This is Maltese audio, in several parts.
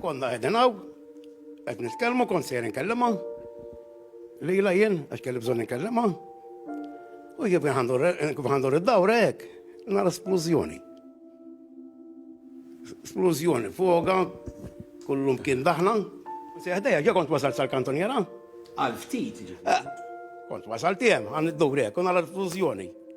Konna qegħdin hawn, qed nitkellmu kont sejrin kellimha. Lila jien għax kelli bżonn inkellimha. U jien kif ħandur id-dawra hekk, nara splużjoni. Splużjoni fuqha, kullum kien daħna. Seħdejja ġa kont wasal sal-kantoniera. Għal ftit. Eh, kont wasal tiegħem għan id-dawra hekk, u nara splużjoni.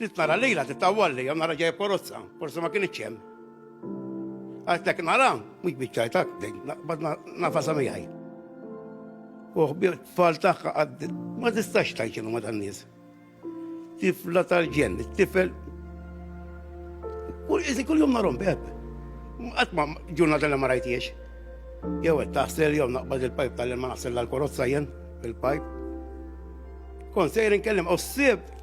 Rid nara lejla titawwal lejha nara ġejja porozza, forsi ma kienx hemm. Għaltek nara, mhux biċċajtak, bad nafasa miegħi. U ħbir tfal tagħha għad ma tistax tajċinu ma tan-nies. Tifla tal-ġen, tifel. Kull iżi kull jum narhom beb. Qatt ma ġurnata li ma rajtiex. Jew qed taħsel jew naqbad il-pajp tal-ma naħsel l-korozza jien fil-pajp. Kon sejrin kellim u s-sib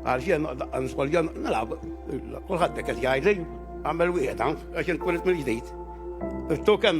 Għalxien daqqa niskoljan nilab, kulħadd qed jgħidli, għamel wieħed hawn għax inkun mill-ġdid. Irtu kemm